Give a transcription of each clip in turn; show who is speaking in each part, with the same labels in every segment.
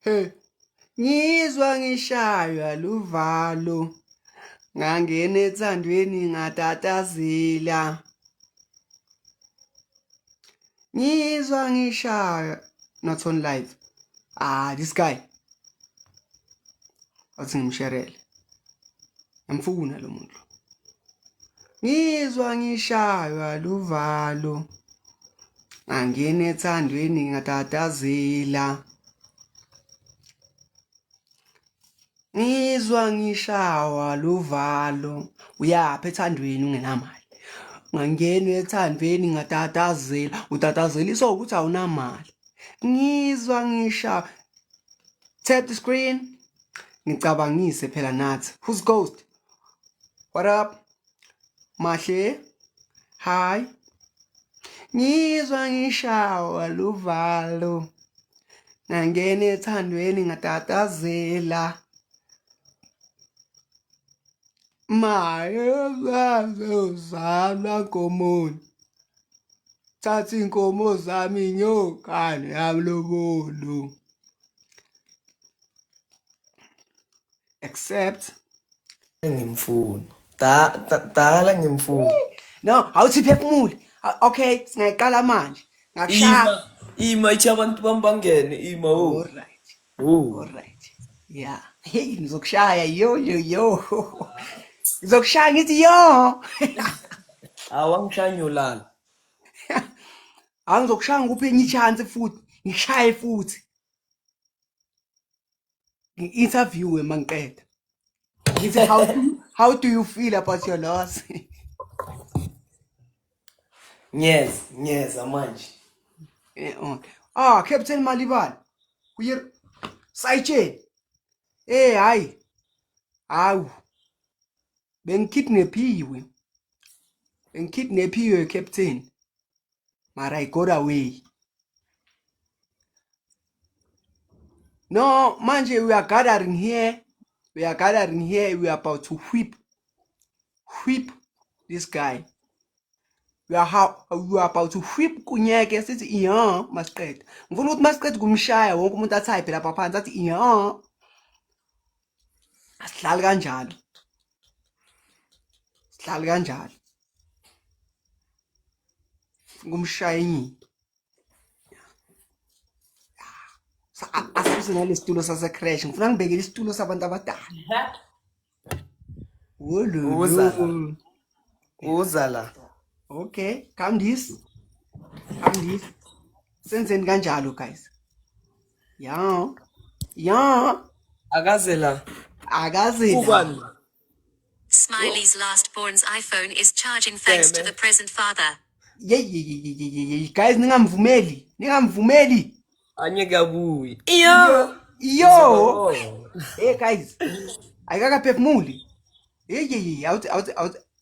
Speaker 1: Hey. Ngizwa ngishaywa luvalo ngangena ethandweni ngatatazela Ngizwa ngishaywa not on live ah this guy athi ngimsherele ngimfuna lo muntu Ngizwa ngishaywa luvalo angene ethandweni ngatatazela ngizwa ngishawa luvalo uyapha ethandweni ungenamali ngangena ethandweni ngatatazela utatazeliswa ukuthi awunamali ngizwa ngisha tap the screen ngicabangise phela nathi who's ghost what up Mahle. Hi. Ngizwa ngishawa luvalo. Ngangena ethandweni ngatatazela. mayezazozalwa nkomoni thatha inkomo zami nyokane yamlobolo accept
Speaker 2: ngimfuni dala ngimfuni no awuthi
Speaker 1: phefumule okay singayiqala manje ngakushaya ima ithi
Speaker 2: abantu bami bangene ima o oh. right o oh. right
Speaker 1: yeah hey ngizokushaya yo yo yo ngizokushaya ngithi yo
Speaker 2: awangishaya nyolala
Speaker 1: angizokushaya ngikuphe enye ichance futhi ngishaye futhi ngi-interviewe uma ngiqeda ngithi how, how do you feel about your loss ngiyeza
Speaker 2: ngiyeza manje Eh,
Speaker 1: okay. ah captain malibala uye sayitsheni eh hayi hawu bengikidnaphiwe bengikidnaphiwe captain mara i got away No, manje we are gathering here. We are gathering here. We are about to whip, whip this guy. We are, how, we are about to whip kunyeke sithi iya masiqeda. Ngifuna ukuthi masiqeda kumshaya wonke umuntu athayiphe lapha phansi athi iya. Asihlali kanjalo. Sihlali kanjalo. Ngumshaya inyini. asuse nalesitulo sasecrash ngifuna ngibekele isitulo sabantu abadala
Speaker 2: uza la okay
Speaker 1: kamndisi kamndisi senzeni kanjalo guys ya ya
Speaker 2: akaze la akaze la
Speaker 3: Smiley's last born's iPhone is charging thanks to the present father.
Speaker 1: Yeyi guys ningamvumeli. Ningamvumeli. Anyeke
Speaker 2: akuyi. Iyo. Iyo.
Speaker 1: Oh. Hey guys. Ayikakaphefumuli. Yeyi awuthi awuthi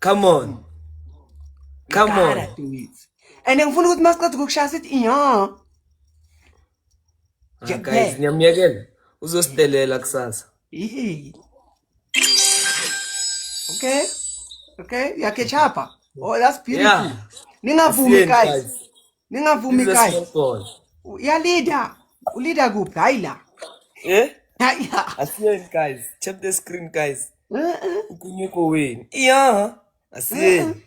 Speaker 2: come
Speaker 1: on come on and ngifuna ukuthi masiqeda ukushaya sithi iya ah,
Speaker 2: guys ngiyamyekela uzosidelela kusasa
Speaker 1: okay okay yakechapa oh that's beautiful yeah. ningavumi guys ningavumi guys uyalida ulida kuphi hayi la eh hayi
Speaker 2: la asiyeni guys tap the screen guys ukunyuko wenu iya asiyeni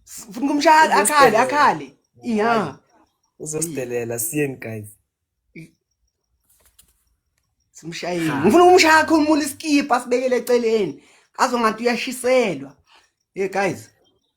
Speaker 1: funa kumshaya akhale akhale iya
Speaker 2: uzosidelela siyeni guys
Speaker 1: simshayile ngifuna ukumshaya akhulumula iskipa sibekele eceleni azongathi uyashiselwa hey guys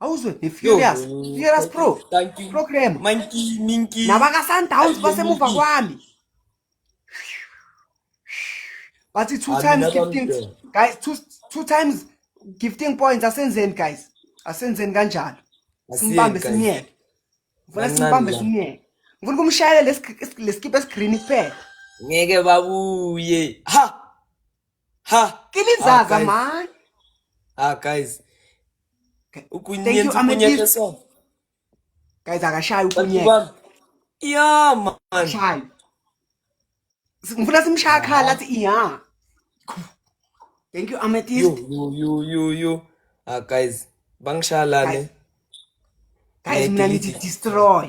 Speaker 1: awuzwe nefurious
Speaker 2: furious pro
Speaker 1: program
Speaker 2: nabaka-sundowns
Speaker 1: basemuva kwami bathi two times gifting guys two,
Speaker 2: two
Speaker 1: times gifting points asenzeni guys asenzeni kanjalo simbambe simyeke
Speaker 2: ngifuna
Speaker 1: simbambe simyeke
Speaker 2: ngifuna
Speaker 1: ukumshayela lesikipa esigreen kuphela ngeke
Speaker 2: babuye ha ha kilizaza
Speaker 1: ah, man ah guys ukunyenza ukunyeke
Speaker 2: so
Speaker 1: guys akashaya ukunyeke
Speaker 2: ya man
Speaker 1: shaya ngifuna simshaya khala athi ya thank you amethyst you you you you
Speaker 2: ah guys bangishalane
Speaker 1: guys mina ngithi destroy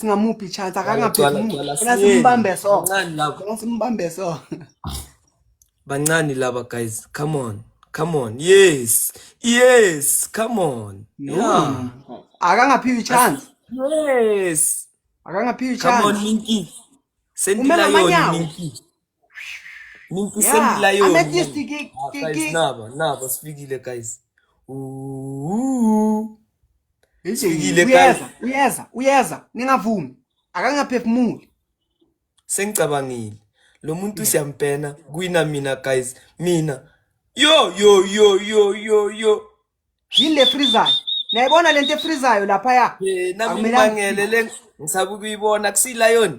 Speaker 1: singamuphi chance akangaphezimulasimbambe
Speaker 2: so
Speaker 1: simbambe
Speaker 2: so bancane laba guys come on come on yes yes come on yeah akangaphiwi
Speaker 1: chance yes
Speaker 2: akangaphiwi
Speaker 1: chance
Speaker 2: come on minki sendila yona minki Nimpisemila yeah. yona.
Speaker 1: Amethyst ki
Speaker 2: ki ah, guys,
Speaker 1: ki. Naba,
Speaker 2: naba sifikile guys. Ooh. Sifikile guys. Uyeza, uyeza, uyeza. Ningavumi.
Speaker 1: Akangaphefumuli.
Speaker 2: Sengicabangile. Lo muntu siyampena kwina mina guys. Mina. Yo yo yo yo yo yo.
Speaker 1: Yile freezer. Nayibona lento efreezayo lapha ya. Eh, nami ngibangele
Speaker 2: le ngisabe kuyibona kusila yona.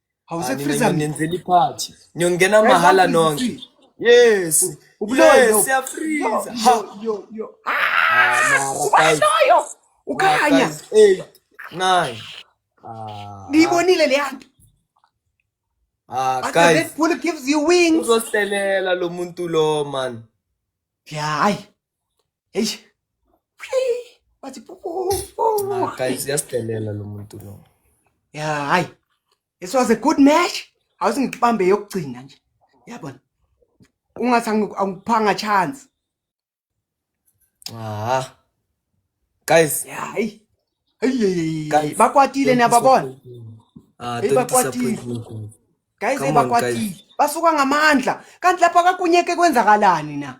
Speaker 2: awusekhrizanenzela
Speaker 1: iphathi
Speaker 2: niyongena mahala nonke yes yes
Speaker 1: siyafriza ha
Speaker 2: yo yo ubaloyo
Speaker 1: ukhanya 8 9
Speaker 2: ngiyibonile
Speaker 1: le yanto Ah, guys. Red Bull gives you
Speaker 2: wings.
Speaker 1: Uzoselela lo
Speaker 2: muntu lo man. Yeah, hayi.
Speaker 1: Eish. Bathi ah, guys
Speaker 2: yasidelela lo muntu lo. Yeah, hayi.
Speaker 1: This was a good match. Awusingibambe yokugcina nje. Yabona. Ungathi angikuphanga chance. Ah.
Speaker 2: Guys, hayi.
Speaker 1: Hey, bakwatile
Speaker 2: niyababona?
Speaker 1: Ah, hey,
Speaker 2: bakwatile. Guys, hey, bakwatile. Basuka
Speaker 1: ngamandla. Kanti lapha kakunyeke kwenzakalani na?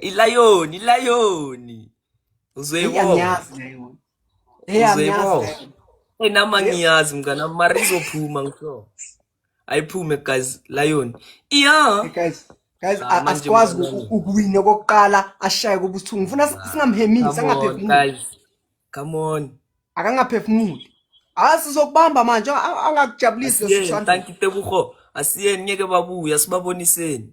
Speaker 1: ilayoni
Speaker 2: ilayoni Eyi, uzoyibona angiyazi nayo.
Speaker 1: Eyi, angiyazi uzoyibona nayo. Hey, nama
Speaker 2: ngiyazi mngana mara izophuma ngisho ayiphume guys lion iya Guys, guys, Ah, a- manje asikwazi
Speaker 1: mngane wami.
Speaker 2: uku-
Speaker 1: ukuwina
Speaker 2: okokuqala
Speaker 1: ashaye kubuthungu. Ngifuna si- singamhemisi, come on angaphefumuli. guys
Speaker 2: come on Akangaphefumuli.
Speaker 1: Ah, sizokubamba manje, a- angakujabulisi asiyeni losishando. thank you
Speaker 2: tebuho asiyeni ngeke babuya sibaboniseni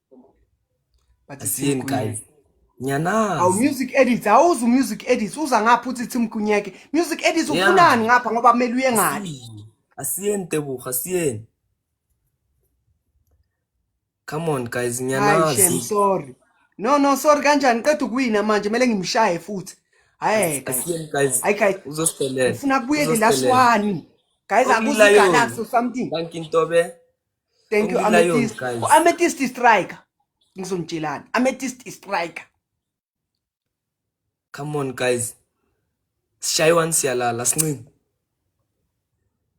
Speaker 1: but siyeni
Speaker 2: guys ngiyanazi awu music edits
Speaker 1: awuzu music edits uza ngapha uthi Tim Kunyeke music edits ufunani ngapha ngoba
Speaker 2: kumele
Speaker 1: uye ngani asiyeni
Speaker 2: tebuha asiyeni
Speaker 1: come on
Speaker 2: guys
Speaker 1: ngiyanazi hayi
Speaker 2: sorry
Speaker 1: no no sorry kanjani qeda ukuwina manje kumele ngimshaye futhi hayi asiyeni guys hayi
Speaker 2: guys uzosidelela
Speaker 1: ufuna
Speaker 2: kubuyele last
Speaker 1: one guys akuzi galaxy or something thank you ntobe
Speaker 2: thank you
Speaker 1: ametist
Speaker 2: ametist striker
Speaker 1: ngizonitshelani ametist striker
Speaker 2: come on guys sishaywan siyalala sincingi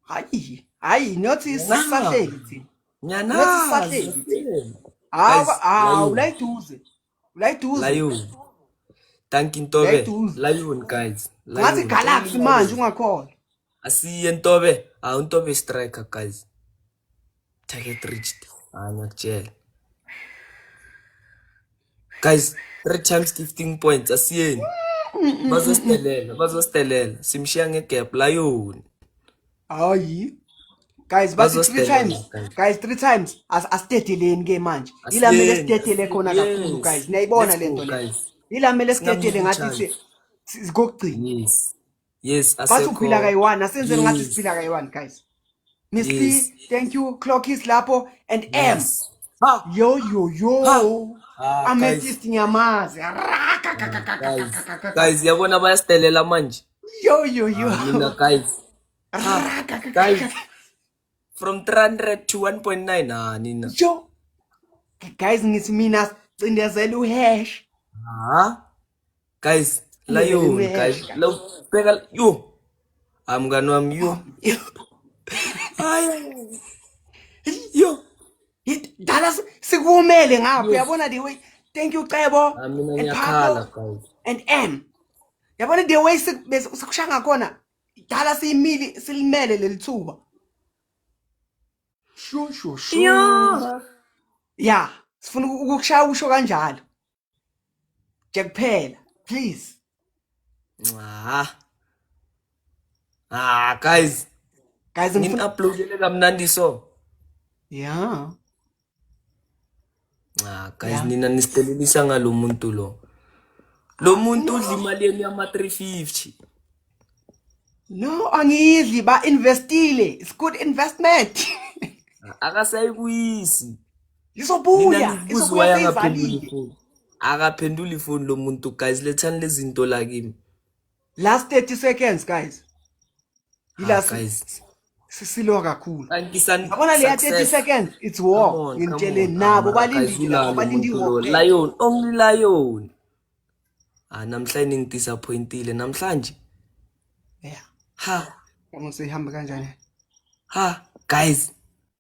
Speaker 2: hayi
Speaker 1: hayi not isahleli thina not
Speaker 2: isahleli hawa
Speaker 1: hawu la iduze Layiduze.
Speaker 2: Layiduze. Thank you Ntobe. Layiduze. Layun guys. Ngathi Galaxy
Speaker 1: manje ungakhona. Asiye
Speaker 2: Ntobe. Ah uNtobe striker guys. Target reached. Ah ngiyakutshela. Guys, three times 15 points asiyeni. Bazositelela, bazositelela. Simshiya ngegap layuni. hayi
Speaker 1: guys bathi three Bazosdela times nabo, guys. guys three times As- asidedeleni ke manje ila mele Asiyeni, sidedele asiyeni. khona kakhulu Yes. guys niyayibona Let's le go, nto le guys. ila mele sidedele ngathi si- Singamkhuthazi. si- sikokugcina Yes. Yes,
Speaker 2: bathi asekho. uphila
Speaker 1: kayi-one asenzeni ngathi Yes. siphila kayi-one guys miss Yes. Lee, thank you clock is lapho and m Yes. Ha, yo yo yo Ha. Ah, ametist ngiyamazi guys.
Speaker 2: Guys, yabona bayasidelela manje. Yo, yo, yo.
Speaker 1: Ah, mina guys.
Speaker 2: Ah, guys. From 300 to 1.9 ah nina. Yo.
Speaker 1: Guys ngithi mina cindezela uhash. Ah.
Speaker 2: Guys, la yo guys. Lo bheka yo. I'm gonna am yo. Ay. Yo.
Speaker 1: Dala sikumele ngapha uyabona the way. Thank you Cebo. Ah, mina ngiyakhala
Speaker 2: guys. And M.
Speaker 1: yabona the way sekushaya ngakhona dala siyimili silimele leli thuba shu shu shu ya sifuna ukukushaya usho kanjalo nje kuphela please nca
Speaker 2: ah guys guys ngin
Speaker 1: uploadele kamnandi
Speaker 2: so yeah Cha guys Yeah. nina nisidelelisa ngalo muntu lo. Lo muntu udla imali yenu yama
Speaker 1: 350. No, angidli ba investile. It's good investment. Akasayibuyisi.
Speaker 2: Nina Izobuya,
Speaker 1: nibuza izobuya why angaphenduli
Speaker 2: seyivalile. ifoni. Akaphenduli ifoni lo muntu guys lethani lezinto la kimi. last 30
Speaker 1: seconds guys yila ah,
Speaker 2: guys sisilwa
Speaker 1: kakhulu yabona leya
Speaker 2: 30 seconds
Speaker 1: it's war ngintshele nabo balindile abalindi war lion only
Speaker 2: lion ah namhlanje ngidisappointile namhlanje
Speaker 1: yeah ha kama sihamba kanjani ha
Speaker 2: guys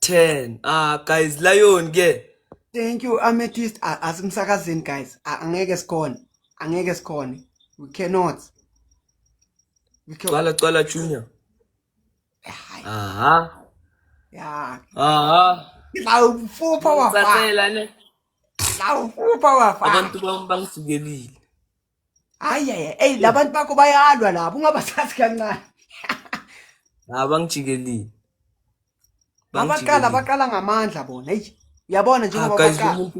Speaker 1: 10
Speaker 2: ah guys lion ke thank you
Speaker 1: amethyst asimsakazini guys angeke sikhona angeke sikhona we cannot we cannot cwala
Speaker 2: cwala junior aha
Speaker 1: ya aha lawufupha
Speaker 2: wafa lawufupha wafa abantu bangisukelile hayi
Speaker 1: hayi eyi labantu bakho bayalwa lapho ungabasazi kancane ha
Speaker 2: bangijikelile babaqala
Speaker 1: baqala ngamandla bona eyi yabona njengoba baqala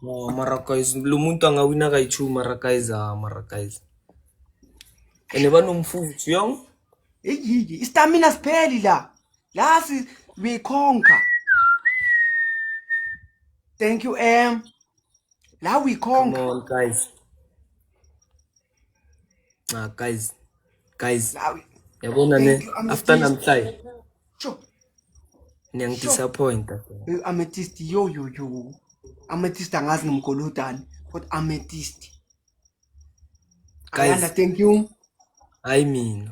Speaker 1: no mara
Speaker 2: guys lo muntu angawina kayi-two mara guys ha mara guys ene banomfuthu yong eyiyi
Speaker 1: istamina sipheli la la we conquer thank you m la uyikhonga come on guys ah guys
Speaker 2: guys yabona ne after namhlanje
Speaker 1: sure niyangidisappointa
Speaker 2: eh, ametist yo
Speaker 1: yo yo ametist angazi ngimgolodani but ametist
Speaker 2: guys thank you
Speaker 1: hayi
Speaker 2: mina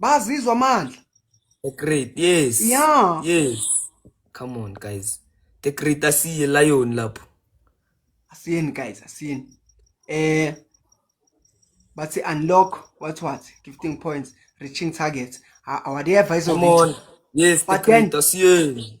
Speaker 1: bazizwa amandla the great
Speaker 2: yes yeah yes come on guys the
Speaker 1: great
Speaker 2: asiye lion lapho asiyeni
Speaker 1: guys asiyeni eh bathi unlock what what 15 points reaching target awade advisor come on yes
Speaker 2: the great asiyeni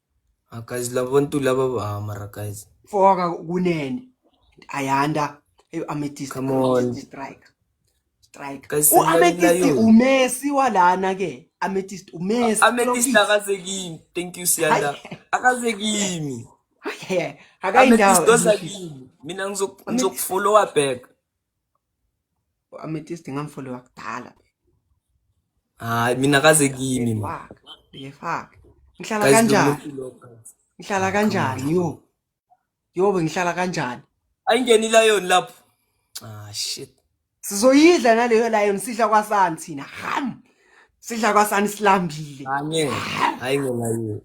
Speaker 1: Ah,
Speaker 2: guys laba bantu laba ah, mara guys foka kunene
Speaker 1: ayanda eyo ametist Come on. strike strike
Speaker 2: Guys, u ametist singayilayo.
Speaker 1: umesi walana ke ametist umesi ametist akaze
Speaker 2: kimi thank you siyanda akaze kimi ametist
Speaker 1: akayindawo oza kimi
Speaker 2: mina ngizoku- Amethyst. ngizokufollowa back U-amethyst
Speaker 1: ngamfoliwa kudala.
Speaker 2: Hayi mina kaze kimi ma. Ngiyefaka, ngiyefaka.
Speaker 1: Ngihlala Guys kanjani? lomuntu lo guys. Ngihlala kanjani yo? Yo bengihlala kanjani? Ayingeni lion
Speaker 2: lapho. Ah shit. Sizoyidla
Speaker 1: naleyo lion sidla kwasani thina. Ham. Sidla kwasani silambile. Anye. Hayi
Speaker 2: ngelayo.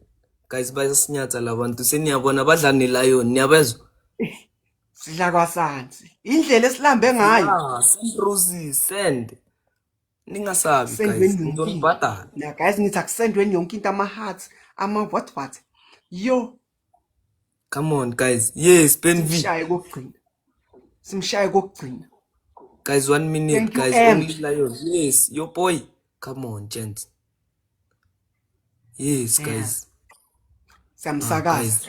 Speaker 2: Guys bayasinyatha labantu seniyabona badla nelayo niyabezwa.
Speaker 1: sidla kwasansi indlela esilambe ngayo Ah, Sandruzi,
Speaker 2: send. Ningasabi guys, sendweni yonke into ngizonibhadala. na guys ngithi
Speaker 1: akusendweni yonke into ama-heart ama-what what yo
Speaker 2: Come on guys. Yes, Ben V. simshaye kokugcina simshaye
Speaker 1: kokugcina Guys, one
Speaker 2: minute, thank you guys. em Only Lion. Yes, your boy. Come on, gents. Yes, yeah guys. Ah,
Speaker 1: siyamsakaza guys.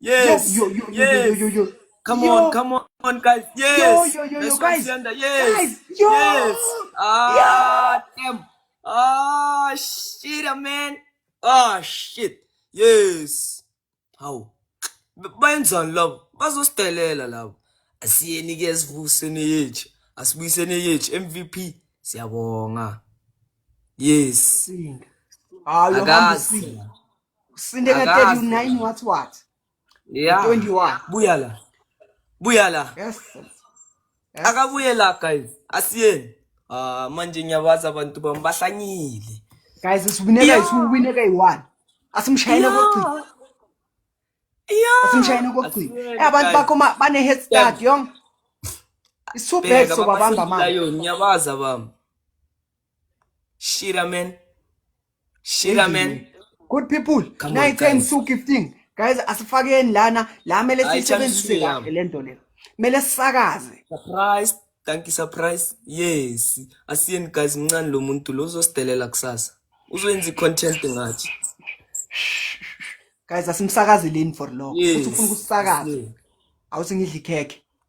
Speaker 2: Yes.
Speaker 1: Yo,
Speaker 2: yo, yo, yes. yo, yo, yo,
Speaker 1: yo. Come yo.
Speaker 2: on, come
Speaker 1: on, guys. Yes. Yo, yo, yo, yo, guys. Yes. Guys. Yo. Yes.
Speaker 2: Ah, yo. damn. Ah, shit, ah, man. Ah, shit. Yes. How? Bayenzani labo? Bazosidelela labo. Asiyeni ke sivuseni yethu. Asibuyiseni yethu MVP. Siyabonga. Yes. Singa. Hayi, akazi.
Speaker 1: Usinde ka 39 what what? Yeah. 21.
Speaker 2: Buya la.
Speaker 1: Buya
Speaker 2: la. Yes.
Speaker 1: yes.
Speaker 2: Akabuye la guys. Asiyeni. Ah uh, manje ngiyabaza abantu bami bahlanyile. Guys usibineka
Speaker 1: yeah. isiwineka yi1. Asimshayele yeah. kokugcina. Yeah. Asimshayele kokugcina. Eh abantu bakho bane head start yong. Isubheso babamba manje. Ngiyabaza bami.
Speaker 2: Shira man. Shira man. Good people.
Speaker 1: Come on, 9 10 guys. 2 15. Guys asifakeni lana la mele Ay, siyisebenzise Chamsi, kahle le nto le. Mele sisakaze. Surprise.
Speaker 2: Thank you surprise. Yes. Asiyeni guys mncane lo muntu lo uzosidelela kusasa. Uzoyenza i-content ngathi.
Speaker 1: Guys asimsakazeleni for long. Yes. Uthi ufuna ukusakaza. Yes. Awusingidli ikhekhe.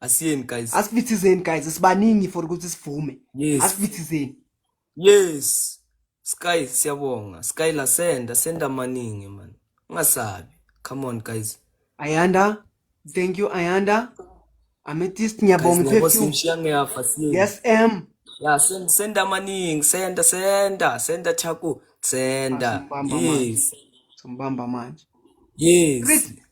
Speaker 2: asiyeni guys asivithizeni guys
Speaker 1: sibaningi for ukuthi sivume yes. asivithizeni yes
Speaker 2: sky siyabonga sky la senda senda maningi man ungasabi come on guys ayanda
Speaker 1: thank you ayanda ametist ngiyabonga ngiyabonga yes m ya send send
Speaker 2: amaningi senda senda senda chaku senda yes sombamba
Speaker 1: manje yes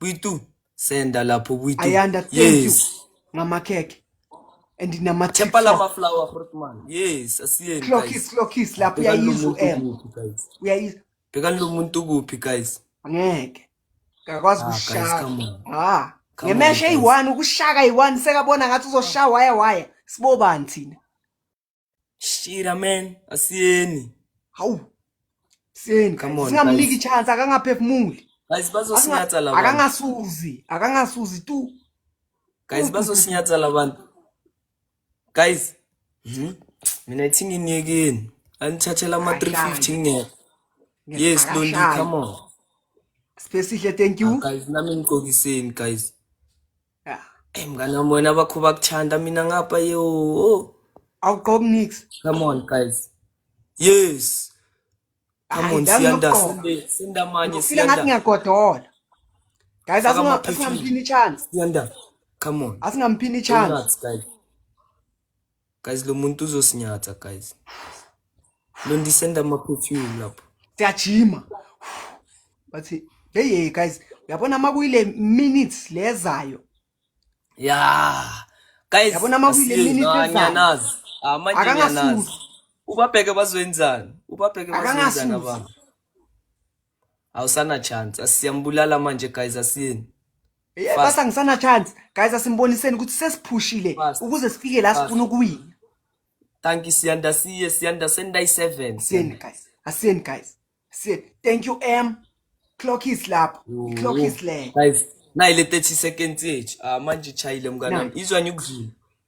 Speaker 2: Bwitu senda lapho Bwitu. Ayanda thank yes. you
Speaker 1: ngamakhekhe and nama Tempa la ma flower fruit
Speaker 2: man. Yes, asiyeni guys. Clockis clockis lapho uyayizwa
Speaker 1: em.
Speaker 2: Uyayizwa. Bheka
Speaker 1: lo muntu
Speaker 2: kuphi guys? Angeke.
Speaker 1: Ngakwazi ah, kushaya. Ah.
Speaker 2: Ngemeshe eyi-one
Speaker 1: ukushaka eyi-one sekabona ngathi uzoshaya waya waya. Sibobani thina?
Speaker 2: Shira man, asiyeni. Hawu.
Speaker 1: Seni, Come on, singamniki guys. chance akangaphefumuli. Guys bazosinyathela
Speaker 2: abantu. Akangasuzi,
Speaker 1: akangasuzi tu. Guys
Speaker 2: bazosinyathela abantu. Guys. Mhm. Mina ithi nginiyekeni. Anithathela ama 350 ngeke. Yes, Londi, come on. Sipesihle,
Speaker 1: thank you. Ah, guys, nami ngigqokiseni
Speaker 2: guys.
Speaker 1: ya Hey mngane wami
Speaker 2: wena bakho bakuthanda mina ngapha yo. Oh, awugqoki
Speaker 1: nix come on guys.
Speaker 2: Yes. Come Hayi, on ngidala siyanda ngokugqoka. sinde sinde amanye ngifile ngathi siyanda. ngiyagodola
Speaker 1: guys Faka asinga- ama-perfume. asingamphini chance Siyanda.
Speaker 2: Come on. asingamphini Go chance nuts
Speaker 1: guys.
Speaker 2: Guys lo muntu uzosinyatha guys. Lo ndisenda ama perfume lapho. Siyajima.
Speaker 1: Bathi hey hey guys uyabona uma kuyile minutes lezayo. Yeah.
Speaker 2: Guys yabona uma kuyile minutes
Speaker 1: lezayo. Ah
Speaker 2: manje ngiyanazi. Ubabheke bazwenzani? Ubabheke bazwenzani abantu? awusana chance asiyambulala manje guys asiyeni yeah, basi
Speaker 1: angisana chance guys asimboniseni ukuthi sesiphushile ukuze sifike la sifuna ukuwina thank
Speaker 2: you siyanda siye siyanda sendayi 7 siyeni guys asiyeni guys
Speaker 1: siyeni thank you m clock is lapho clock is le guys nayi le 30
Speaker 2: seconds yethu ah manje chayile mngana izwa nyukudlula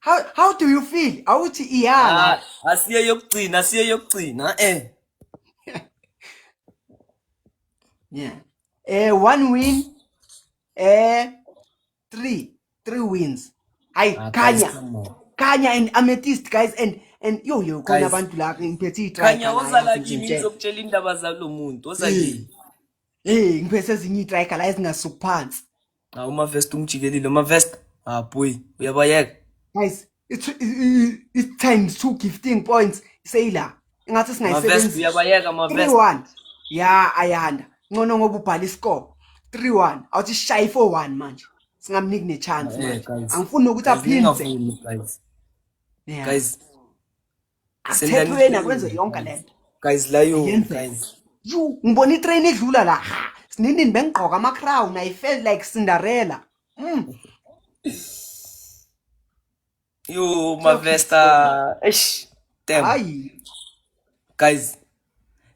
Speaker 1: how, how do you feel awuthi iyala Ah, asiye yokugcina
Speaker 2: asiye yokugcina
Speaker 1: eh yeah eh one win eh three three wins hayi Ah, guys, khanya come on. khanya and amethyst guys and and yo yo khona Guys. abantu la ngiphethe i-try khanya khanya, woza la kimi izinhle.
Speaker 2: ngizokutshela indaba zalo muntu woza kimi Hey, ngiphethe
Speaker 1: ezinye itracker la ezingasuki phansi. Awu mavest
Speaker 2: ungijikelile mavest. Ah boy, uyabayeka.
Speaker 1: Guys, it's it's
Speaker 2: times
Speaker 1: two gifting points seyila. Ingathi singayisebenzisa. Mavest
Speaker 2: uyabayeka
Speaker 1: mavest.
Speaker 2: 3-1. Ya
Speaker 1: ayanda. Ngcono ngoba ubhala iscore. 3-1. Awuthi shayi 4-1 manje. Singamniki ne chance manje. Angifuni ukuthi
Speaker 2: aphinde.
Speaker 1: Guys.
Speaker 2: Guys.
Speaker 1: asithethweni akwenze
Speaker 2: yonke le nto
Speaker 1: guys layo guys you
Speaker 2: ngibona itrain
Speaker 1: idlula la sinini bengigqoka ama crown i felt like cinderella mm.
Speaker 2: yo mavesta eish damn hayi
Speaker 1: guys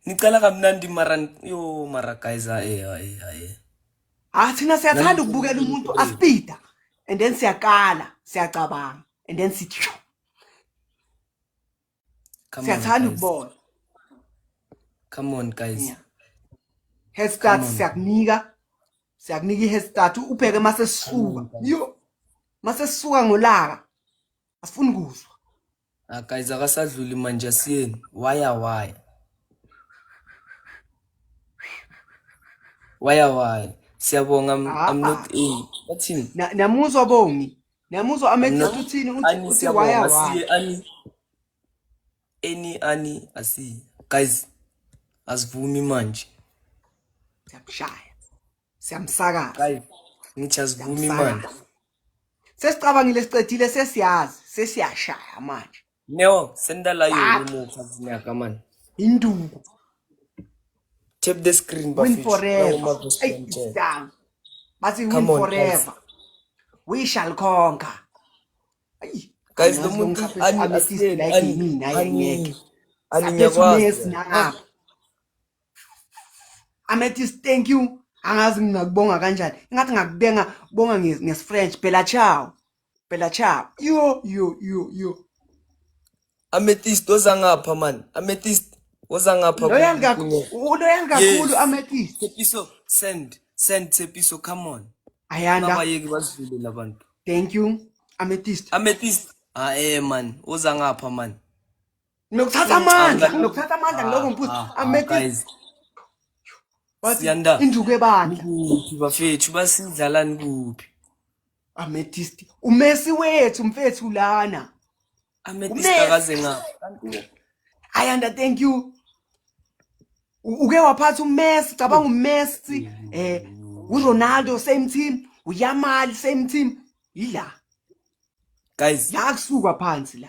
Speaker 2: nicela kamnandi mara yo mara guys aye aye aye ah
Speaker 1: thina siyathanda ukubukela umuntu aspida and then siyakala siyacabanga and then sithi Come on, siyathanda guys. ukubona
Speaker 2: Come on, guys. Yeah.
Speaker 1: head start Come on. siyakunika siyakunika i-head start ubheke uma sesisuka Come on, guys. yo uma sesisuka ngolaka asifuni kuzwa Ah, guys,
Speaker 2: akasadluli manje asiyeni. Waya waya. Waya waya. Siyabonga I'm, I'm not a. Bathini? Na- namuzwa bongi
Speaker 1: Nami uzwa amethisa Not- uthini uthi Ani uthi siyabonga waya waya. siye ani
Speaker 2: any ani asi guys asivumi manje
Speaker 1: Siyamshaya. Siyamsakaza. guys
Speaker 2: ngithi asivumi manje Siyamsakaza.
Speaker 1: Sesicabangile siqedile sesiyazi sesiyashaya manje. Neo, send the
Speaker 2: live ah. remove something like come on. Induku. Tap the screen but win forever. Hey,
Speaker 1: down. But win come on, forever. Guys. We shall conquer. Hey. Guys, the moon
Speaker 2: is unasiyeni ani mina yengeke. Ani ngiyakwazi.
Speaker 1: Amethyst, thank you. Angazi ngingakubonga kanjani. Ingathi ngakubenga bonga ngesifrench. Bella ciao. Bella Chap. Yo, yo, yo, yo.
Speaker 2: Amethyst ozangapha man. Amethyst ozangapha. Loyal kakhulu.
Speaker 1: Uloyal kakhulu Yes. Amethyst. Tepiso send
Speaker 2: send Tepiso come on. Ayanda. Abayeki
Speaker 1: bazidlule
Speaker 2: labantu. Thank you.
Speaker 1: Amethyst. Amethyst. Ah eh
Speaker 2: man, ozangapha man. Nokuthatha
Speaker 1: amandla, nokuthatha amandla ngiloko ngiphuza. Ah, ah, Amete
Speaker 2: Siyanda. Induku ebandla. Kuphi
Speaker 1: bafethu
Speaker 2: basidlalani kuphi? Amethyst.
Speaker 1: Umesi wethu mfethu lana. Amethyst
Speaker 2: akaze nga.
Speaker 1: Ayanda thank you. Uke waphatha uMessi, cabanga uMessi, eh uRonaldo same team, uYamal same team. Yila.
Speaker 2: Guys, la kusuka
Speaker 1: phansi la.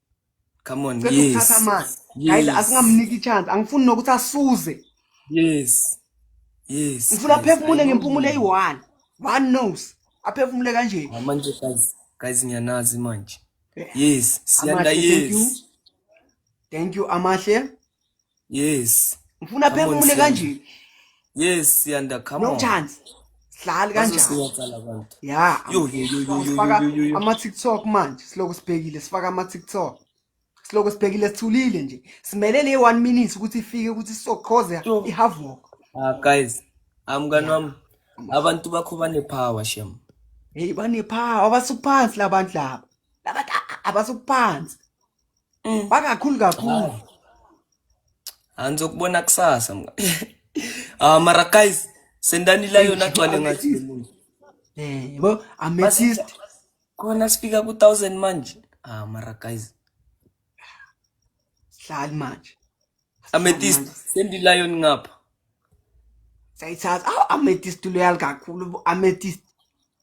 Speaker 2: come on cela yes ukuthatha amanzi
Speaker 1: guys Yes. asingamniki chance angifuni nokuthi asuze yes
Speaker 2: yes
Speaker 1: ngifuna yes, I aphefumule know. ngempumulo eyi-one one knows aphefumule kanje Ah, manje guys
Speaker 2: guys ngiyanazi manje yes siyanda Amahle, thank you. yes
Speaker 1: thank you amahle yes
Speaker 2: ngifuna Come on,
Speaker 1: phefumule Siyanda. kanje yes
Speaker 2: siyanda come no on chance
Speaker 1: sihlali kanjani bazosiyaqala abantu ya Yo, yo, yo, yo, yo,
Speaker 2: sifaka yo, yo, yo.
Speaker 1: ama-tiktok manje siloko sibhekile sifaka ama-tiktok siloko sibhekile sithulile nje simele le one minute ukuthi ifike ukuthi sizoqhoza Yo. i-havok ah guys
Speaker 2: amngani wami abantu bakho banepower shem heyi banephawu
Speaker 1: abasuphansi labantu laba labantu a- a- abasuphansi Mm. Bakakhulu kakhulu. Anizokubona
Speaker 2: kusasa mga. Ah mara guys sendani la yona gcwale ngathi. Eh, yebo
Speaker 1: amethyst. Khona
Speaker 2: sifika ku 1000 manje. Ah mara guys.
Speaker 1: Hlali manje. Amethyst
Speaker 2: sendi lion ngapha. Sayithatha.
Speaker 1: Aw amethyst loyal kakhulu amethyst.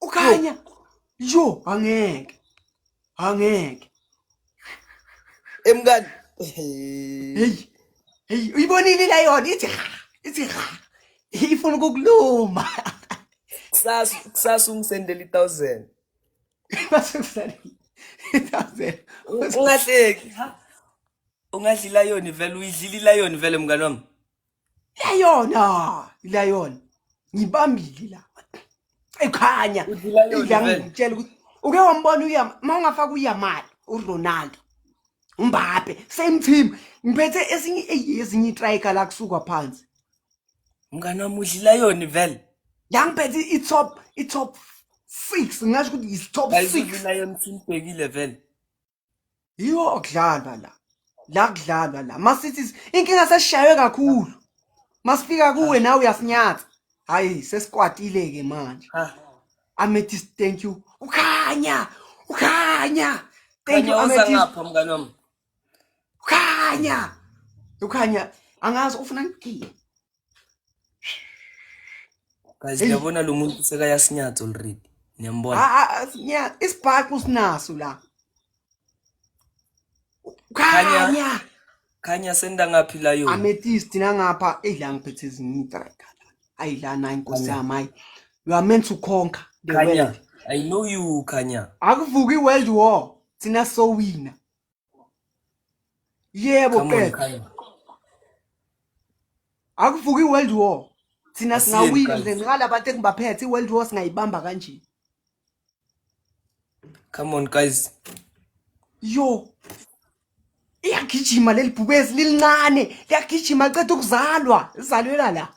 Speaker 2: ukhanya
Speaker 1: yo angeke angeke
Speaker 2: emkani hey
Speaker 1: hey uyibonile la yona ithi ithi ifuna ukukuluma kusasa
Speaker 2: kusasa ungisendela i1000 base
Speaker 1: kusasa i1000 ungahleki
Speaker 2: ungadlila yona vele uyidlila yona vele mngani wami Layona, layona.
Speaker 1: Ngibambile la. Ekhanya.
Speaker 2: Ngiyangitshela ukuthi uke
Speaker 1: wambona uya mawungafaka uyamali uRonaldo. Mbappe, same team. Ngiphethe esinye ezinye itrika la kusuka phansi. Mngane
Speaker 2: wami udlila yona vele. Yangiphethe
Speaker 1: i-top i-top 6 ngasho ukuthi yi-top 6. Ayizona yona
Speaker 2: simbhekile vele. yiwo
Speaker 1: okudlalwa la la kudlalwa la masithi inkinga sesishaywe kakhulu masifika kuwe nawe uyasinyatha hayi sesikwatile ke manje
Speaker 2: amethyst
Speaker 1: thank you ukhanya ukhanya thank you amethyst
Speaker 2: mngane wami ukhanya
Speaker 1: ukhanya angazi ufuna ngigile
Speaker 2: guys Hey. yabona lo muntu sekayasinyatha already niyambona Ah, ah, ah, sinya- isibhaxu
Speaker 1: sinaso la khanya
Speaker 2: khanya senda ngaphi la yona amethyst nangapha
Speaker 1: eyi la ngiphethe ezinyitreka ayi la nayi nkosi yami hayi you are meant to conquer the khanya world i know
Speaker 2: you khanya akuvuki i-world
Speaker 1: war thina sowina yebo qeda akuvuki i-world war thina singawina nje ngala
Speaker 2: bantu
Speaker 1: engibaphethe i-world war singayibamba kanje
Speaker 2: come on guys yo
Speaker 1: iyagijima leli bhubezi lilincane liyagijima ceda ukuzalwa lizalwela la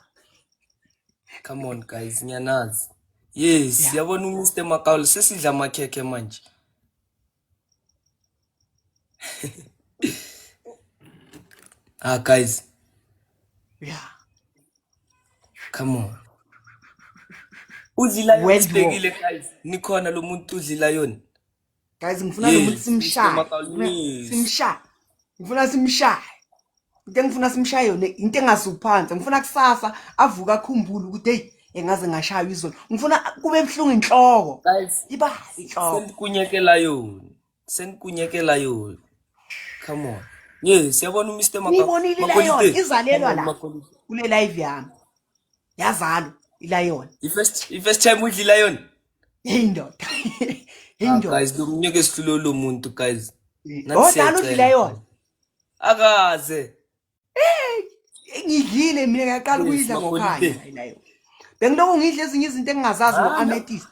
Speaker 2: come on guys ngiyanazi yes yabona yeah. umr makaul sesidla amakhekhe manje ah, guys. Yeah. Come on. Udlila yonibekile guys. Nikhona lo muntu udlila yona. Guys ngifuna
Speaker 1: lo muntu simshaya.
Speaker 2: Simshaya.
Speaker 1: ngifuna simshaye into engifuna simshaye yona into engasuphansi ngifuna kusasa avuka akhumbule ukuthi hey engaze ngashaywa izolo ngifuna kube buhlungu inhloko iba
Speaker 2: inhloko
Speaker 1: sendikunyekela yona
Speaker 2: sendikunyekela yona come on ye siyabona uMr Makabonile layo
Speaker 1: izalelwa la kule live yami yazalo ilayona i first i first time
Speaker 2: udlila yona Hey ndoda.
Speaker 1: Hey Ah, ndoda.
Speaker 2: guys lomnyaka esihlule lo muntu guys Nathi Odala siyacela. udlile
Speaker 1: yona. akaze Ngidlile mina ngiyaqala Yes, ukuyidla maholide. ngokhaya hayi nayo. Bengiloko ngidla ezinye izinto engingazazi Ah, no. ngo-amethyst.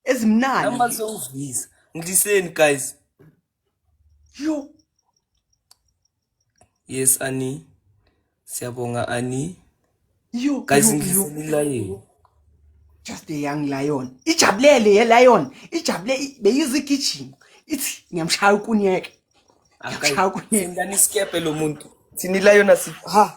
Speaker 1: Ezimnandi. namba zongidlisa
Speaker 2: ngidliseni guys
Speaker 1: Yo.
Speaker 2: Yes Ani. Siyabonga Ani. Yo.
Speaker 1: Guys ngidlisile
Speaker 2: lion.
Speaker 1: Just a young lion. Ijabulele ye lion. Ijabule beyizigijima. Ithi ngiyamshaya ukunyeke. Ngiyamshaya ukunyeke. Ngani skephe lo
Speaker 2: muntu. Thini lion asi. Ha.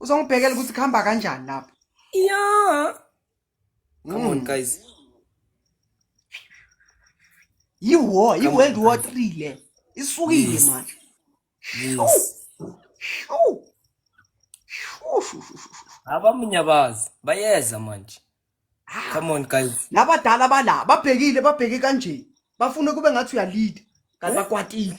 Speaker 1: uzongibhekela ukuthi kuhamba kanjani lapho yeah
Speaker 2: come on mm. guys
Speaker 1: yiwo yiworld war three le isukile
Speaker 2: manje abamunyabazi bayeza manje ah. come on guys labadala bala
Speaker 1: babhekile babheke kanje bafuna kube ngathi uyalida kanti eh? bakwatile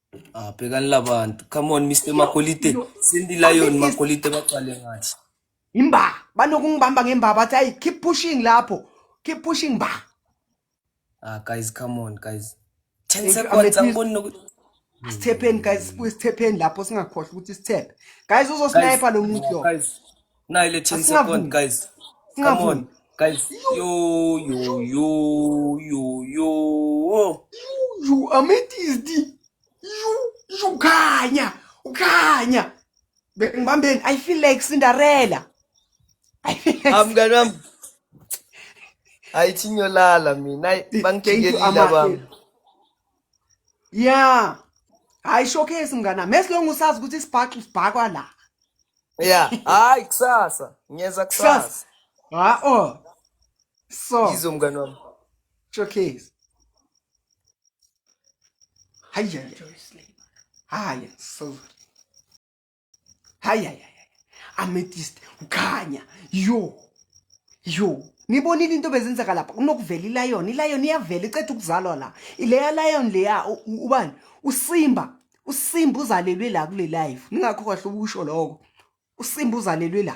Speaker 2: Ah, bhekani labantu. Come on Mr Makolite. Cindy Lion Makolite baqale ngathi. Imba
Speaker 1: banokungibamba ngemba bathi ayi keep pushing lapho. Keep pushing ba. Ah
Speaker 2: guys come on guys. 10 seconds angiboni nokuthi Sithephen
Speaker 1: guys sibuye sithephen lapho singakhohlwa ukuthi sithephe. Guys uzosniper lo muntu lo. Guys Now 11
Speaker 2: second guys.
Speaker 1: Come
Speaker 2: on guys. Yo yo yo
Speaker 1: yo yo. You amethyst. You you khanya. Ukhanya. Ngibambeni I feel like Cinderella. I feel like
Speaker 2: Amngane wami. Ayithinyolala mina. Bangijikela bami. ya
Speaker 1: hayi showcase mngana mesilonga usazi ukuthi isibhaxu sibhakwa la ya
Speaker 2: hayi kusasa ngiyeza kusasa ha o
Speaker 1: so izo mngana wami
Speaker 2: showcase
Speaker 1: hayi hayi so hayi hayi ametist ukhanya yo yo nibonile into bezenzeka lapha kunokuvela ilayoni ilayoni iyavela iceda ukuzalwa la ileya layoni leya ubani usimba usimba uzalelwe la kule life ningakho kahle ukusho lokho usimba uzalelwe la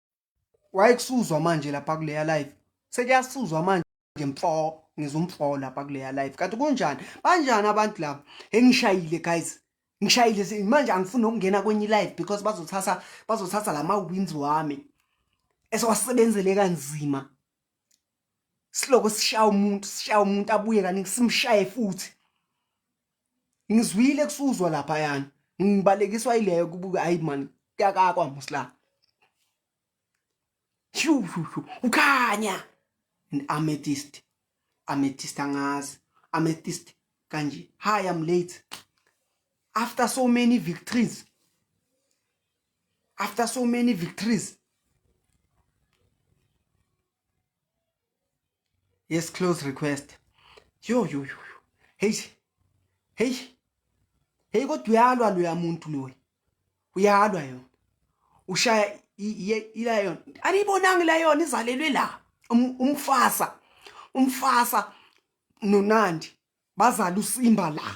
Speaker 1: wayekusuzwa manje lapha kuleya live sekuyasuzwa manje mfo ngizumfo lapha kuleya live kanti kunjani banjani abantu laba engishayile guys ngishayile manje angifuni ukungena kwenye live because bazothatha bazothatha lama wins wami esewasebenzele kanzima siloko sishaya umuntu sishaya umuntu abuye kaningi simshaye futhi ngizwile kusuzwa lapha yana ngibalekiswa ileyo kubuka hayi man kuyakakwa musla shu shu shu ukhanya an amethyst amethyst angazi amethyst kanje hi i'm late after so many victories after so many victories yes close request yo yo yo hey hey hey kodwa uyalwa loya muntu loyi uyalwa yona ushaya ilayon aniyibonanga ilayon izalelwe la um, umfasa umfasa nonandi bazala usimba la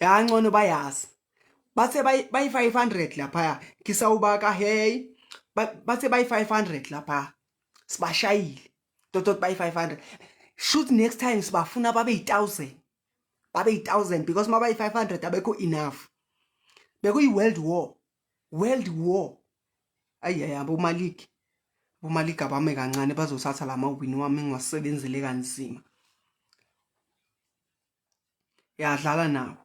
Speaker 1: yancono bayazi bathe bayi-500 laphaya ngisawubaka hey bathe bayi-500 laphaya sibashayile totot bayi-500 shoot next time sibafuna babe yi-1000 babe yi-1000 because uma bayi-500 abekho enough bekuyi-world war world war ayi ayi abomaligi abomaligi abame kancane bazothatha la mawini wami ngiwasebenzele kanzima yadlala nawo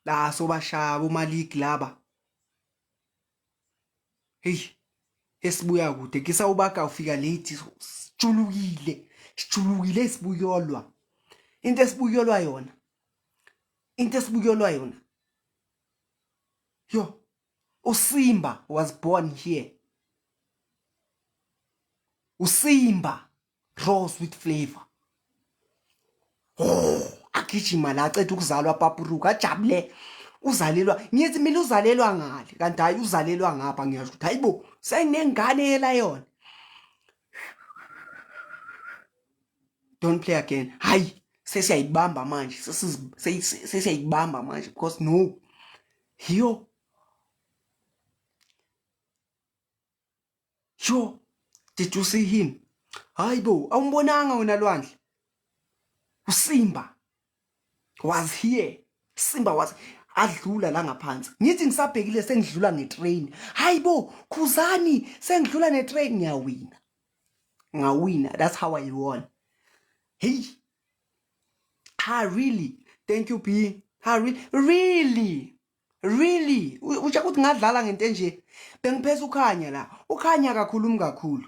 Speaker 1: la sobashaya bomaligi laba hey esibuya kude kisa ubaka ufika late sijulukile sijulukile sibuyolwa into esibuyolwa yona into esibuyolwa yona yo usimba was born here usimba raw sweet flavor oh agijima la aceda ukuzalwa papuruka ajabule uzalelwa ngithi mina uzalelwa ngale kanti hayi uzalelwa ngapha ngiyasho ukuthi hayibo senginengane yela yona don't play again hayi sesiyayibamba manje sesiyayibamba manje because no hiyo Sure. Did you see him? Hayi bo, awumbonanga wena Lwandle. USimba was here. Simba was adlula la ngaphansi. Ngithi ngisabhekile sengidlula ngetrain. Hayi bo, khuzani sengidlula netrain ngiyawina. Ngawina, that's how I won. Hey. Ha really? Thank you B. Ha really? Really? Really? Usho ukuthi ngadlala ngento enje. Bengiphesa ukhanya la. Ukhanya akakhulumi kakhulu.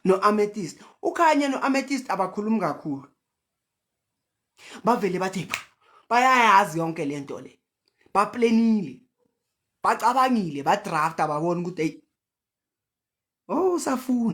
Speaker 1: No amethyst. Ukhanya no amethyst abakhulumi kakhulu. Bavele bathi bayayazi yonke lento le. Ba planile. Bacabangile, ba draft ababona ukuthi hey. Oh, safuna.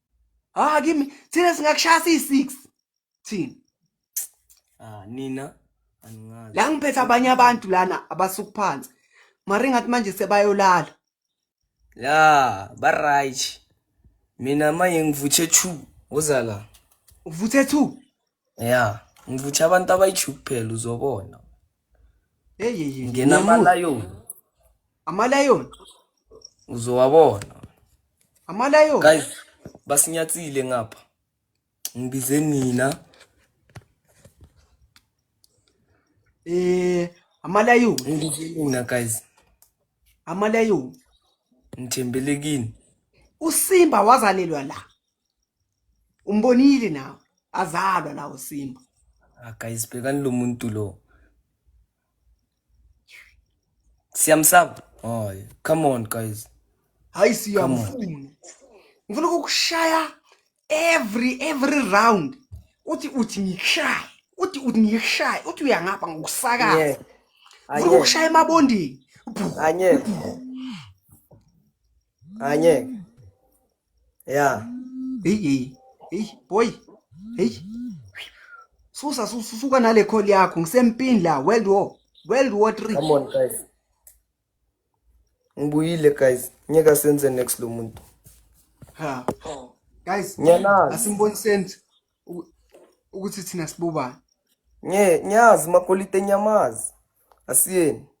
Speaker 2: ah
Speaker 1: kimi thina singakushaya siyi-six thina
Speaker 2: ah nina aningazi la ngiphethe abanye
Speaker 1: abantu lana abasuku phansi mari ngathi manje sebayolala ya
Speaker 2: ba-right mina manje ngivuthe two uza la uvuthe
Speaker 1: two ya
Speaker 2: ngivuthe abantu abayi-two kuphela uzobona
Speaker 1: eyeye ngena
Speaker 2: amalayoni amalayoni uzowabona
Speaker 1: amalayoni guys
Speaker 2: basinyatsile ngapha ngibize nina
Speaker 1: eh amalayoni ngibize nina
Speaker 2: guys
Speaker 1: amalayoni
Speaker 2: ngithembele kini usimba
Speaker 1: wazalelwa la umbonile nawe azalwa la usimba ah guys
Speaker 2: bhekani lo muntu lo Siyamsaba. Hayi, come on guys. Hayi
Speaker 1: siyamfuna. Ngifuna ukukushaya every every round. Uthi uthi ngikushaya. Uthi uthi ngikushaya. Uthi uyangapha ngokusakaza. Yeah. Ngifuna ukukushaya emabondini. Bhu, Angeke.
Speaker 2: bhu. Angeke. ya heyi
Speaker 1: heyi boy heyi susa susuka nale call yakho ngisempini la world war world war 3 come on guys
Speaker 2: ngibuyile guys ngeke senze next lo muntu
Speaker 1: ha guys ngiyanazi asimboniseni ukuthi thina sibobani ngiyazi
Speaker 2: makolite nyamazi asiyeni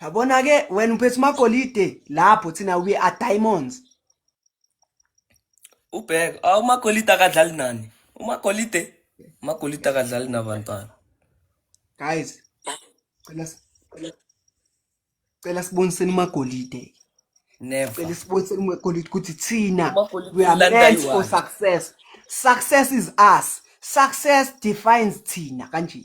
Speaker 1: yabona ke wena uphethe magolide lapho thina we are diamonds
Speaker 2: ubheka ah, umagolide akadlali nani umagolide umagolide akadlali nabantwana guys
Speaker 1: cela cela cela siboniseni magolide never
Speaker 2: cela siboniseni
Speaker 1: magolide ukuthi thina we are meant for success success is us success defines thina kanje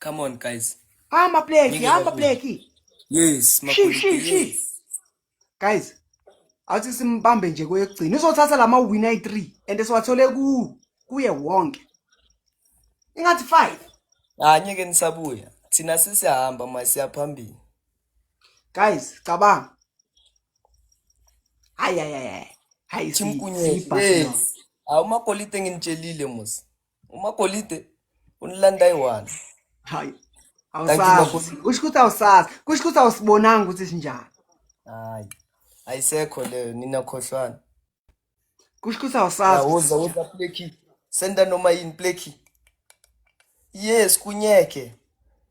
Speaker 2: Come on guys. Hamba pleki,
Speaker 1: hamba pleki.
Speaker 2: Yes, shi
Speaker 1: shi shi. Guys, awuthi simbambe nje kweyokugcina. Uzothatha lama win ayi3 and siwathole ku kuye wonke. Ingathi 5. Ah, ngeke nisabuya.
Speaker 2: Thina sisihamba manje siyaphambili.
Speaker 1: Guys, cabanga. Hayi hayi hayi. Hayi simkunyezi.
Speaker 2: Awumakolite nginitshelile musa. umagolide unilanda eyi-one hayi
Speaker 1: awusazi kusho ukuthi awusazi kusho ukuthi awusibonanga ukuthi sinjani hayi
Speaker 2: ayisekho leyo nina khohlwana
Speaker 1: kusho ukuthi awusazi uza uza pleki
Speaker 2: senda noma yini pleki yes kunyeke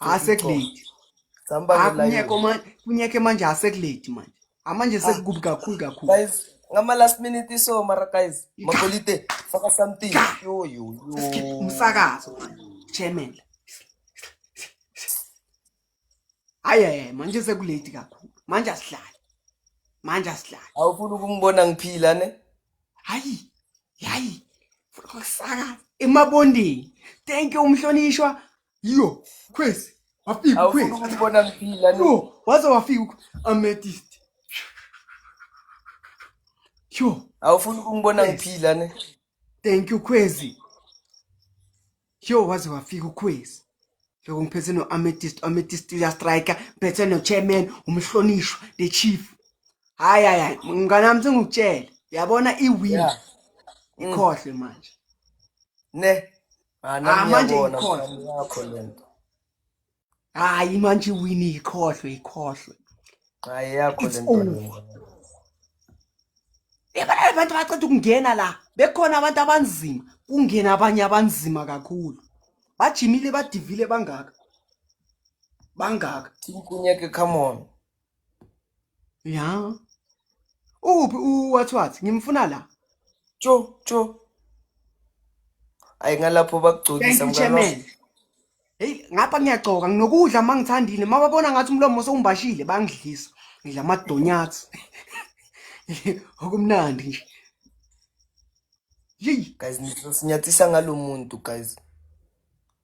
Speaker 1: asekuleti
Speaker 2: akunyeke manje kunyeke manje
Speaker 1: asekuleti manje amanje ah. sekukubi kakhulu kakhulu guys ngama
Speaker 2: last minute so mara guys makolite faka something yo yo yo umsakazo
Speaker 1: chairman aye manje sekuleti kakhulu manje asidlali manje asidlali
Speaker 2: awufuni ukungibona ngiphila ne hayi hayi
Speaker 1: funa ukusakaza emabondeni thank you umhlonishwa Yo, crazy. Wafika Awufuna ukhwezi. ukubona ngiphila
Speaker 2: no. Yo, waze wafika
Speaker 1: ukh- amethyst. Yo, Awufuna ukungibona
Speaker 2: Yes. ngiphila ne. thank you
Speaker 1: khwezi. Yo, waze wafika ukhwezi. Lokho ngiphethe no amethyst, amethyst uya striker, ngiphethe no chairman, umhlonishwa, the chief. Hayi hayi hayi, mngane wami sengikutshela. Yabona i win. Yeah. Ikhohle manje. Ne.
Speaker 2: Ah, ah
Speaker 1: manje ikhohlwe hayi manje iwini ikhohlwe ikhohlwe
Speaker 2: hayi yakho le nto
Speaker 1: yabona abantu baceda ukungena la bekhona abantu abanzima kungena abanye abanzima kakhulu bajimile badivile bangaka bangaka
Speaker 2: tinkunyeke come on ya
Speaker 1: uphi uwathwathi ngimfuna la tsho tsho
Speaker 2: ayi ngalapho bakugcokisa mngalo
Speaker 1: heyi ngapha ngiyagcoka nginokudla uma ngithandile uma babona ngathi umlomo sewumbashile bangidlisa ngidla amadonyathi okumnandi nje yeyi
Speaker 2: guys nizosinyathisa ngalo muntu guys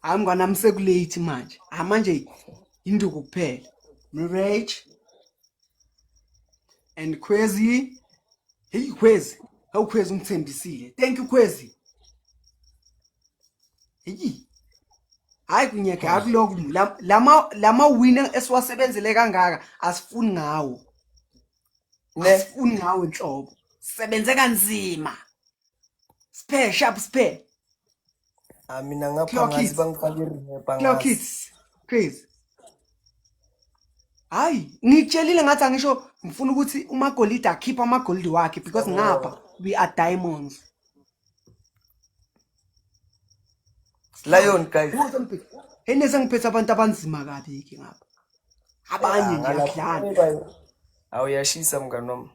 Speaker 1: hayi mngwana ami sekulate manje hayi manje yinduku kuphela mrage and khwezi heyi khwezi hawu khwezi ungithembisile thank you khwezi heyi hayi kunyeke akuloku lama lama wina esiwasebenzele kangaka asifuni ngawo ne asifuni ngawe nhlobo sebenze kanzima spare sharp spare Ah,
Speaker 2: mina ngapha Clock ngathi it. bangiqale irehab clock angazi. it
Speaker 1: please hayi ngitshelile ngathi angisho ngifuna ukuthi umagolide akhiphe amagolide wakhe because ngapha we are diamonds
Speaker 2: lion guys enese
Speaker 1: ngiphethe abantu abanzima kabi ke ngapha abanye nje akudlala awuyashisa
Speaker 2: mngani wami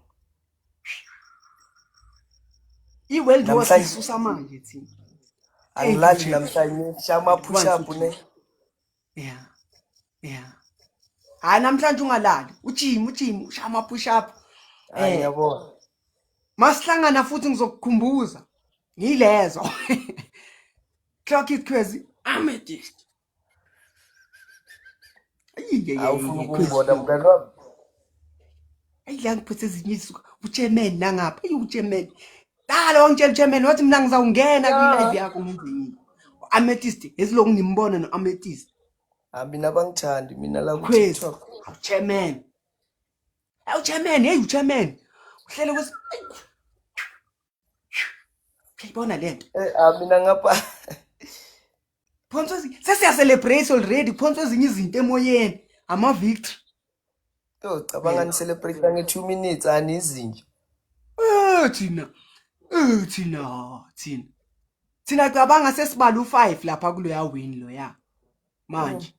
Speaker 1: i-world war sisusa manje thina angilali
Speaker 2: namhlanje shaya ama-push up ne yeah
Speaker 1: yeah hayi namhlanje ungalali ujim ujim ushaya ama-push up eh
Speaker 2: yabona
Speaker 1: masihlangana futhi ngizokukhumbuza ngilezo clock it crazy i'm a dish awufuna
Speaker 2: ukuyibona mntana wami
Speaker 1: ayi la ngiphethe ezinye izinsuku uchairman nangapha ayi uchairman Dala wangitshela chairman wathi mina ngizawungena kwi-live yakho ngenze yini. U-Amethyst ezilokhu ngimbona no-Amethyst. Ah mina
Speaker 2: bangithandi mina la Khwezi. ku-TikTok. Awu
Speaker 1: chairman. Awu chairman, hey uchairman. Uhlele kwesi Uyayibona lento. Eh ah mina ngapha phonsa sesiyacelebrate already phonsa ezinye izinto emoyeni ama-victory yo
Speaker 2: cabanga nicelebrate nge-two minutes ani izinja Eh, thina Eh, thina
Speaker 1: thina thina cabanga sesibala u-five lapha kuloya wini loya manje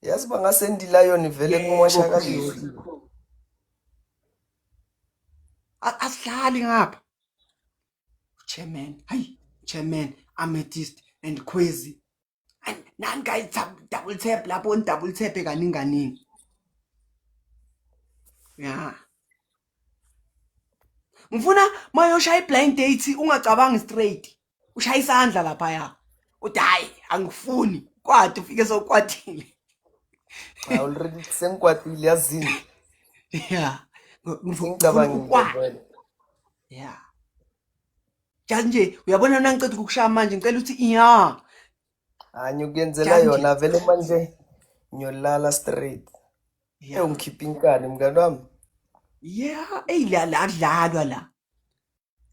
Speaker 2: yazi bangasendilayoni vele kumoshakaliwe
Speaker 1: A- asidlali ngapha Chairman, hayi chairman, amethyst and khwezi. Ay, Nani guys tap, double tap lapho ni double tap kaningi kaningi. Yeah. Ngifuna mayoshaya iblind date ungacabangi straight. Ushaya isandla lapha ya. Uthi hayi angifuni. Kwathi ufike sokwathile.
Speaker 2: I already sengikwatile yazini. Yeah.
Speaker 1: Ngifuna Ngicabangile
Speaker 2: ukwazi. vele. ya
Speaker 1: jazi nje uyabona na ngiceda ukukushaya manje ngicela ukuthi ya hanye
Speaker 2: ukuyenzela yona vele manje ngiyolala straight ewu ngikhipha inkani mngani wami ya
Speaker 1: eyi la la kudlalwa la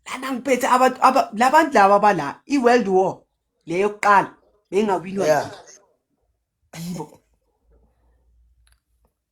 Speaker 1: lana ngiphethe abantu labantu laba abala i-world war leyo yokuqala bengawinwa
Speaker 2: yibo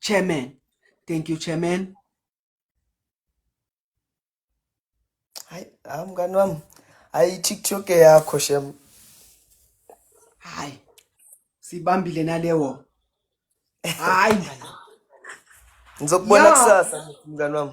Speaker 1: Chairman. Thank you, Chairman.
Speaker 2: Hayi, hayi mngani wami. Hayi TikTok yakho shem. Hayi.
Speaker 1: Sibambile nalewo. Hayi mngani.
Speaker 2: Ngizokubona Yeah. kusasa mngani wami.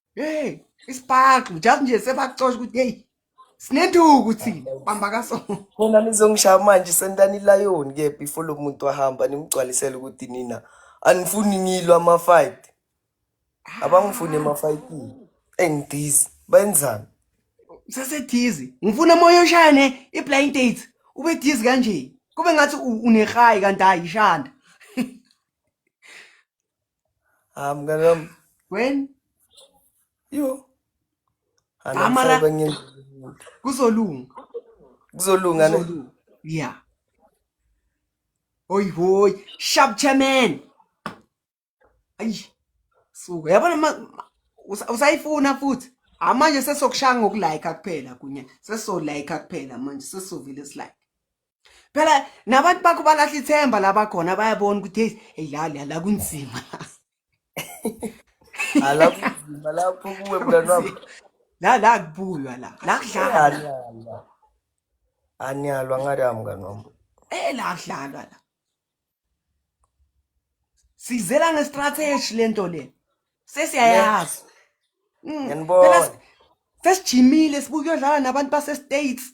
Speaker 2: hey
Speaker 1: isibhaxu just nje sebakucosha ukuthi hey sinenduku thina bamba kaso khona nizongishaya
Speaker 2: manje sentani ilayoni ke before lo muntu ahamba nimgcwalisele ukuthi nina anifuni ngilwa ama-fight abangifuni ema-fightini engidhizi benzani sesedizi
Speaker 1: ngifuna moya oshane i-blind date ube dizi kanje kube ngathi unehayi kanti hayi ishanda
Speaker 2: I'm gonna um, when
Speaker 1: you and I'm Amara- serving in kuzolunga
Speaker 2: kuzolunga ne kuzolunga yeah
Speaker 1: hoyi hoyi sharp chairman ayi suka yabona ma- ma- usa- usayifuna futhi hayi manje sesokushaya ngokulayika kuphela kunye sesolayika kuphela manje sesovele silike phela nabantu bakho balahla ithemba laba khona bayabona ukuthi hey hey la la la kunzima ala kunzima
Speaker 2: lapho kuwe mntwana wami la la
Speaker 1: kubuywa la la kudlalwa anyalwa
Speaker 2: anyalwa ngathi amngani wami eh la kudlalwa
Speaker 1: la sizela ngestrategy lento le sesiyayazi Mm,
Speaker 2: phela ngiyanibona
Speaker 1: sesijimile sibuke uyodlala nabantu basestates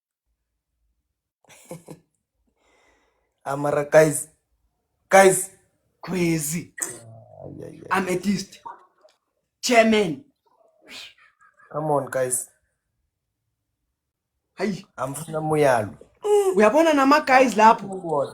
Speaker 2: amara guys guys crazy
Speaker 1: ametist chairman
Speaker 2: come on guys
Speaker 1: hayi amfuna muyalo
Speaker 2: uyabona
Speaker 1: nama guys lapho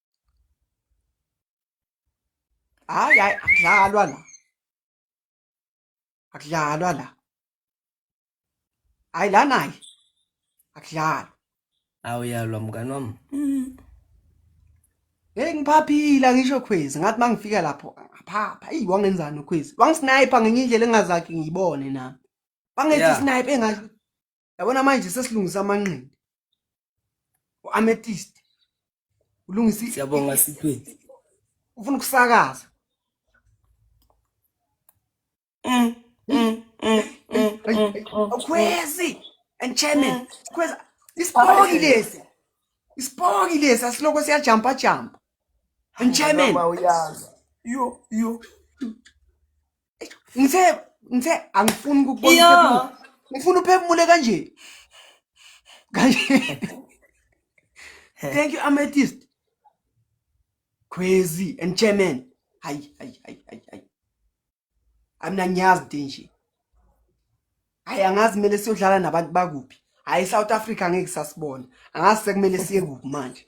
Speaker 1: hayi hayi akudlalwa la akudlalwa la hayi la naye akudlalwa
Speaker 2: awuyalwa mngani wami
Speaker 1: hey ngiphaphila ngisho khwezi ngathi mangifika lapho ngaphapha eyi wangenzani ukhwezi wangisniper ngenye indlela engazakhe ngiyibone nami bangethi Yeah. sniper engathi yabona manje sesilungisa amanqindi u-ametist ulungisa siyabonga sithweni
Speaker 2: ufuna
Speaker 1: ukusakaza mm, mm, mm, ukhwezi and chairman sikhweza isipoki lesi isipoki lesi asiloko siyajampa jampa and chairman yo
Speaker 2: yo
Speaker 1: ngithe ngithe angifuni ukubona Iya. uphefumulo. ngifuna uphefumule kanje kanje thank you amethyst crazy and chairman hayi hayi hayi hayi hayi amna ngiyazi into enje hayi angazi kumele siyodlala nabantu bakuphi hayi south africa ngeke sasibona angazi sekumele siye kuphi manje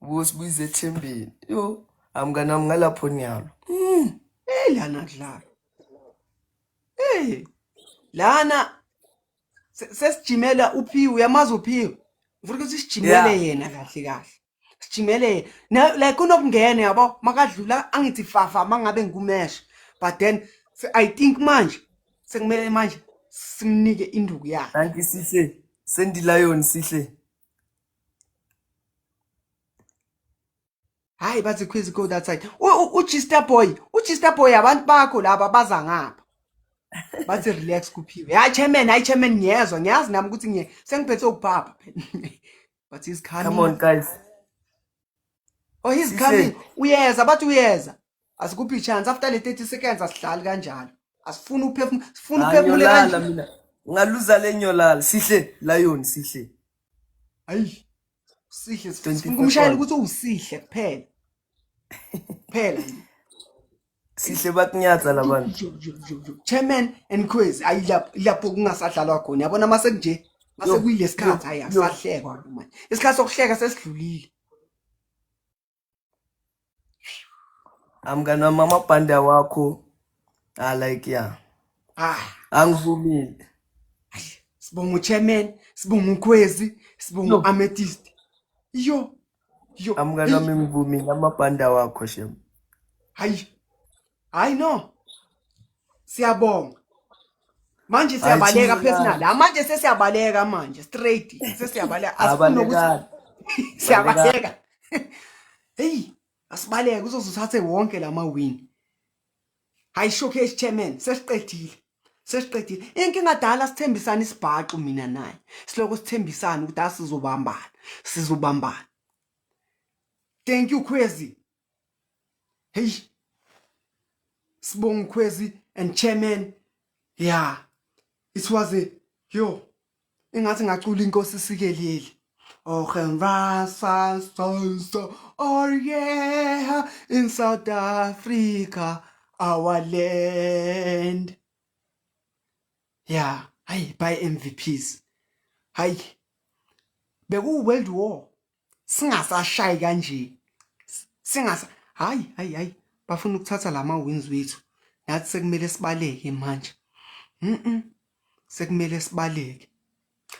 Speaker 2: Ubosibuyiza ethembeni. Yo, amngana ngalapho nyalo. Mm. Hey
Speaker 1: lana kudlala. Hey. Lana sesijimela uphiwe uyamazi uphiwe. Ngifuna ukuthi sijimele yena kahle kahle. Sijimele na like unokungena yabo makadlula angithi fafa mangabe ngikumesh but then I think manje sekumele manje simnike induku yakhe. Thank you sihle.
Speaker 2: Sendi Lion sihle.
Speaker 1: hayi bathi quiz go that side uchister boy uchister boy abantu bakho laba baza ngapha bathi relax kuphiwe hayi chairman hayi chairman ngiyezwa ngiyazi nami ukuthi ngiye sengiphethe ukubhabha but he's coming come on
Speaker 2: guys
Speaker 1: oh he's coming uyeza bathi uyeza asikuphi chance after le 30 seconds asidlali kanjalo asifuni uphefumula sifuna uphefumule Nganyolala kanjalo mina. Ngaluza
Speaker 2: le nyolala. Sihle lion sihle. hayi
Speaker 1: sihle 24 sifuna kumshayela points. ukuthi uwusihle kuphela kuphela
Speaker 2: Sihle bakunyatsa labantu. chairman
Speaker 1: and quiz ayi lapho lapho kungasadlalwa khona yabona mase kunje mase Yo, kuyilesikhathi hayi yo, yo. akusahlekwa manje isikhathi sokuhleka sesidlulile
Speaker 2: amngani wami amabhande awakho ah like ya ah angivumile
Speaker 1: sibonga uchairman sibonga ukhwezi sibonga no. amethyst yo yo amngani
Speaker 2: wami ngivumile amabhande awakho shem hayi
Speaker 1: hayi no siyabonga manje siyabaleka personal la manje sesiyabaleka manje straight sesiyabaleka asifuni ukuthi siyabaleka hey asibaleke uzoze uthathe wonke lama win hayi showcase chairman sesiqedile sesiqedile inkinga dala sithembisana isibhaxu mina naye siloko sithembisana ukuthi asizobambana sizobambana thank you crazy heyi sibonga ukhwezi and chairman ya it was a yo ingathi ngacula inkosi sikeleli Ogenvasa sonso oh yeah in South Africa our land yeah hayi by MVPs hayi beku world war singasashayi kanje singasa hayi hayi hayi bafuna ukuthatha lama wins wethu nathi sekumele sibaleke manje mhm sekumele sibaleke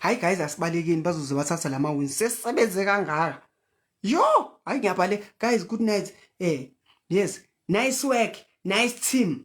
Speaker 1: hayi guys asibalekeni bazoze bathatha lama wins sesebenze kangaka yo hayi ngiyabhale guys good night eh yes nice work nice team